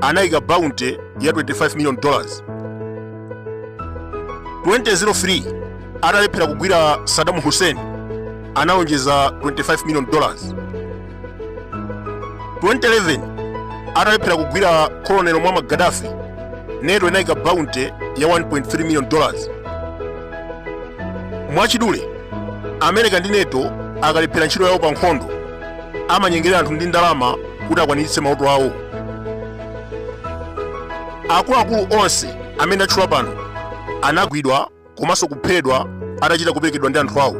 anayika bounty ya 25 million dollars 2003 atalephera kugwira saddam hussein analonjeza 25 million dollars 2011 atalephera kugwira colonel muammar gaddafi nato inayika bounty ya 1.3 million dollars mwachidule america ndi nato akalephera ntchito yawo pa nkhondo amanyengerera anthu ndi ndalama kuti akwaniritse mauto awo akuluakulu onse amene ndatchula pano anagwidwa komanso kuphedwa atachita kuperekedwa ndi anthu awo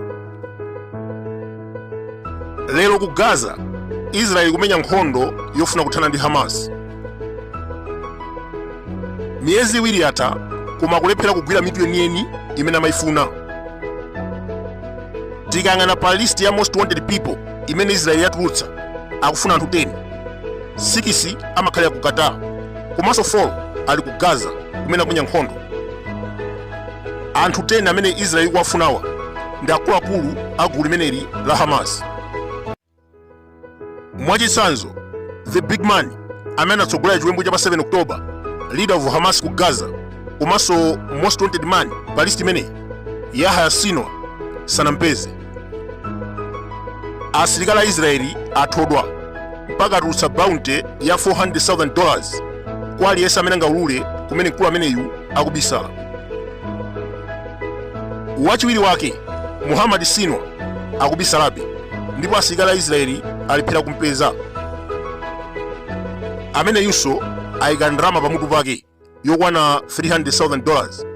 lero ku gaza israeli ikumenya nkhondo yofuna kuthana ndi hamas miyezi iwiri yatha koma akulephera kugwira mitu yeniyeni imene amayifuna tikayang'ana pa list ya most wanted people imene israeli yatulutsa akufuna anthu 10 6 amakhalira ku qatar komanso 4 ali ku gaza kumene akumenya nkhondo anthu 10 amene israeli ikuwafunawa ndi akuluakulu a gulu limeneli la hamas mwachitsanzo the big man amene anatsogolera chiwembu cha pa 7 october leader of hamas ku gaza komanso most wanted man pa list imeneyi yahya sinwar sanampeze asilikali a israeli athodwa mpaka atulutsa bounty ya 400,000 dollars kwa aliyense amene angaulule kumene mkulu ameneyu akubisala wachiwiri wake muhammad sinwar akubisalabe ndipo asilikali a israeli alephera kumpeza ameneyunso ayika ndalama pamutu pake yokwana 300,000 dollars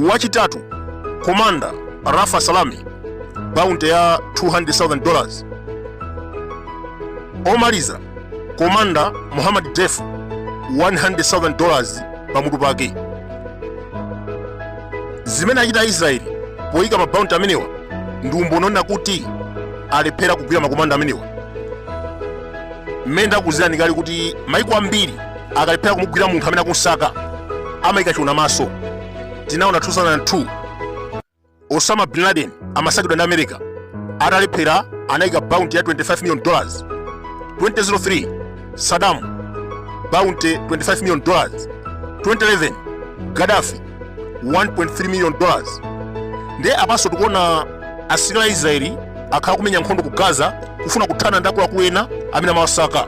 wachitatu komanda rafa salame bounty ya 200,000 dollars omaliza komanda muhammad deif 100,000 dollars pamutu pake zimene achita aisraeli poyika ma bounty amenewa ndi umboni oonetsa kuti alephera kugwira makomanda amenewa mmene ndakuuzirani kale kuti maiko ambiri akalephera kumugwira munthu amene akumsaka amayika chiona maso tinaona 2002 osama bin laden amasakidwa ndi america atalephera anayika bounty ya 25 million dollars 2003 saddam bounty 25 million dollars 2011 gaddafi 1.3 million dollars ndiye apanso tikuona asilikali a israeli akhala akumenya nkhondo ku gaza kufuna kuthana ndi akuluakulu ena amene amawasaka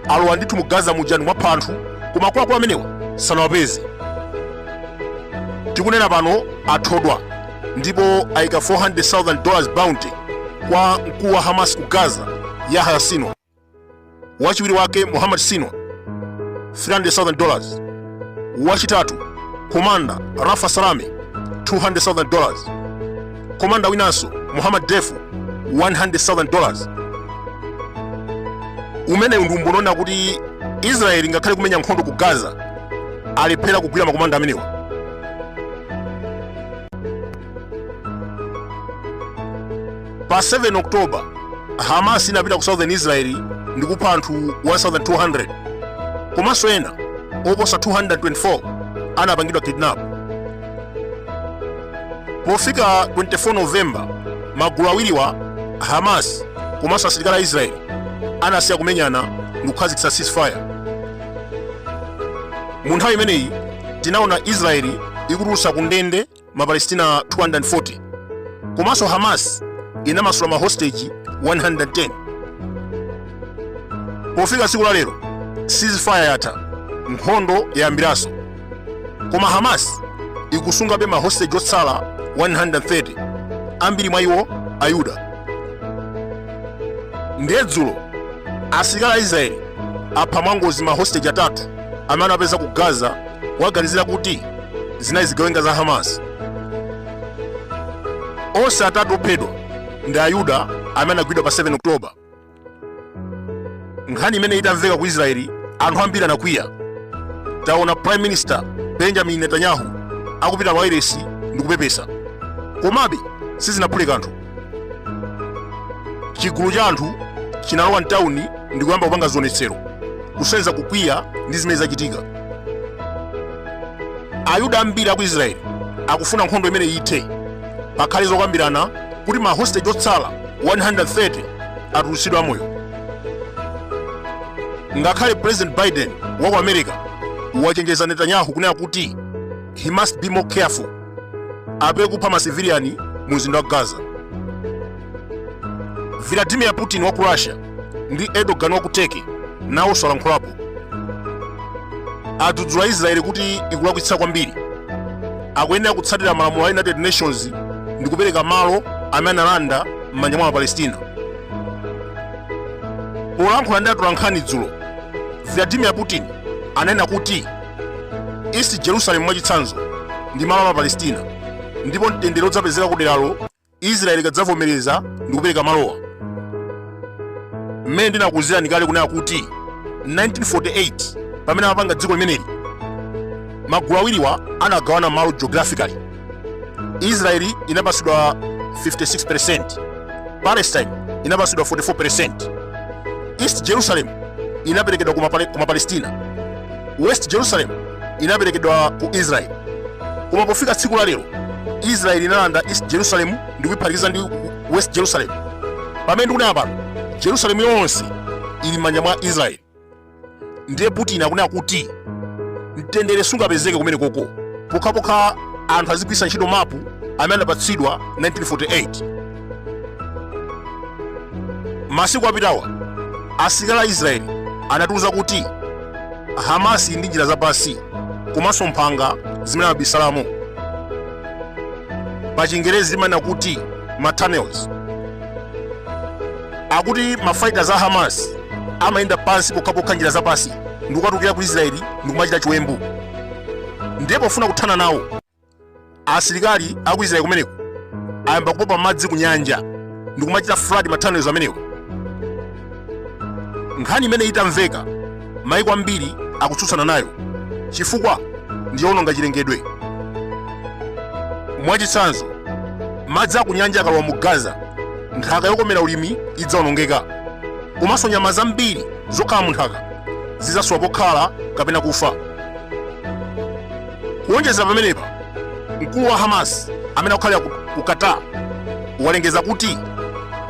alowa ndithu mu gaza muja ndi mwapha anthu koma akuluakulu amenewa sanawapeze tikunena pano athodwa ndipo ayika 400,000 dollars bounty kwa mkulu wa hamas ku gaza yahya sino wachiwiri wake muhammad sino 300,000 dollars wachitatu komanda rafa salami 200,000 dollars komanda winanso muhammad defu 100,000 dollars umenewu ndi umboni onena kuti israeli ngakhale kumenya nkhondo ku gaza alephera kugwira makomanda amenewa pa 7 oktoba hamas inapita ku southern israel ndi kupha anthu 1200 komanso ena oposa 224 anapangidwa kidnap pofika 24 novemba magulu awiriwa hamas komanso asilikali a israel anasiya kumenyana ndi kukhazikitsa ceasefire mu nthawi imeneyi tinaona israeli ikutulutsa ku ndende mapalestina 240 komanso hamas inamasula mahosteji 110 pofika tsiku la lero ceasefire yatha nkhondo yayambiranso koma hamas ikusungabe mahosteji otsala 130 ambiri mwa iwo ayuda ndiye dzulo asilikali a israeli apha mwangozi mahosteji atatu amene anapeza ku gaza awaganizira kuti zinali zigawenga za hamas onse atatu ophedwa ndi ayuda amene anagwidwa pa 7 oktoba nkhani imene itamveka ku israeli anthu ambiri anakwiya taona prime minister benjamin netanyahu akupita pa wailesi ndi kupepesa komabe sizinaphule kanthu chigulu cha anthu chinalowa mtawuni ndi kuyamba kupanga zionetsero kusonyeza kukwiya ndi zimene zachitika ayuda ambiri aku israeli akufuna nkhondo imene ithe pakhale zokambirana kuti mahostage otsala 130 atulutsidwe amoyo ngakhale president biden wa ku america wachenjeza netanyahu kunena kuti he must be more careful apewe kupha masiviliani mu mzinda wa gaza vladimir putin wa ku russia ndi Erdogan wa ku Turkey nawonso alankhulapo adzudzula Israeli kuti ikulakwitsa kwambiri akuyenera kutsatira malamulo a United Nations ndi kupereka malo amene analanda m'manja mwa maPalestina polankhula ndi atolankhani dzulo Vladimir Putin anena kuti East Jerusalem mwachitsanzo ndi malo a maPalestina ndipo mtendere udzapezeka kuderalo israeli ikadzavomereza ndi kupereka malowa mmene ndinakuuzirani kale kunena kuti 1948 pamene amapanga dziko limeneli magulu awiriwa anagawana malo geographically israeli inapatsidwa 56% palestine inapatsidwa 44% east jerusalem inaperekedwa ku mapalestina west jerusalem inaperekedwa ku Israeli. Koma pofika tsiku la lero, Israeli inalanda East Jerusalem ndi kuiphatikiza ndi West Jerusalem. Pamene ndikunena pano, Jerusalem yonse ili m'manja mwa Israeli. Ndiye Putin akunena kuti mtendere sungapezeke kumene koko pokhapokha anthu azigwiritsa ntchito mapu amene anapatsidwa 1948. masiku apitawa asilikali a israeli anatiuza kuti hamasi ili ndi njira zapansi komanso mphanga zimene amabisalamo pa chingerezi timanena kuti ma tunnels akuti mafighters a hamas amayenda pansi pokhapokha njira zapansi ndikukatukira ku israeli ndikumachita chiwembu ndiye pofuna kuthana nawo asilikali aku israeli kumeneko ayamba kupopa madzi ku nyanja ndi kumachita flood ma tunnels amenewo nkhani imene itamveka maiko ambiri akutsutsana nayo chifukwa ndi yowononga chilengedwe mwachitsanzo madzi aku nyanja akalowa mu gaza nthaka yokomera ulimi idzawonongeka komanso nyama zambiri zokhala mu nthaka zidzasowa pokhala kapena kufa Kuwonjezera pamenepa, mkulu wa Hamas amene akukhalira ku Qatar walengeza kuti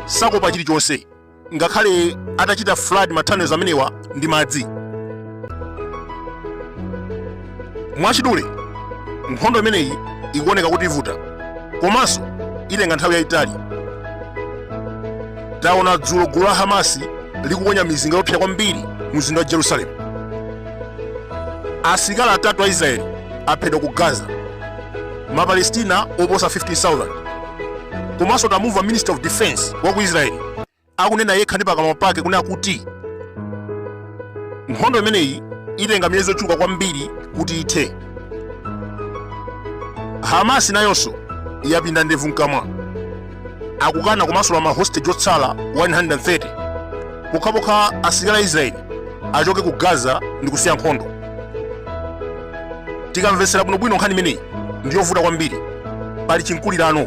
sakuopa chilichonse ngakhale atachita flood ma tunnels amenewa ndi madzi. Mwachidule, nkhondo imeneyi ikuoneka kuti ivuta komanso itenga nthawi yayitali. Taona dzulo gulu la Hamasi likuponya mizinga yoopsa kwambiri mu mzinda wa Jerusalem. asilikali atatu a israeli aphedwa ku gaza mapalestina oposa 15000 komanso tamumva minister of defense wa ku israeli akunena yekha ndi pakamwa pake kunena kuti nkhondo imeneyi itenga miyezi yochuluka kwambiri kuti ithe hamasi nayonso yapinda ndevu mkamwa akukana kumasula ma hostage otsala 130 pokhapokha asilikali a israeli achoke ku gaza ndi kusiya nkhondo tikamvetsera bwinobwino nkhani imeneyi ndi yovuta kwambiri pali chimkulirano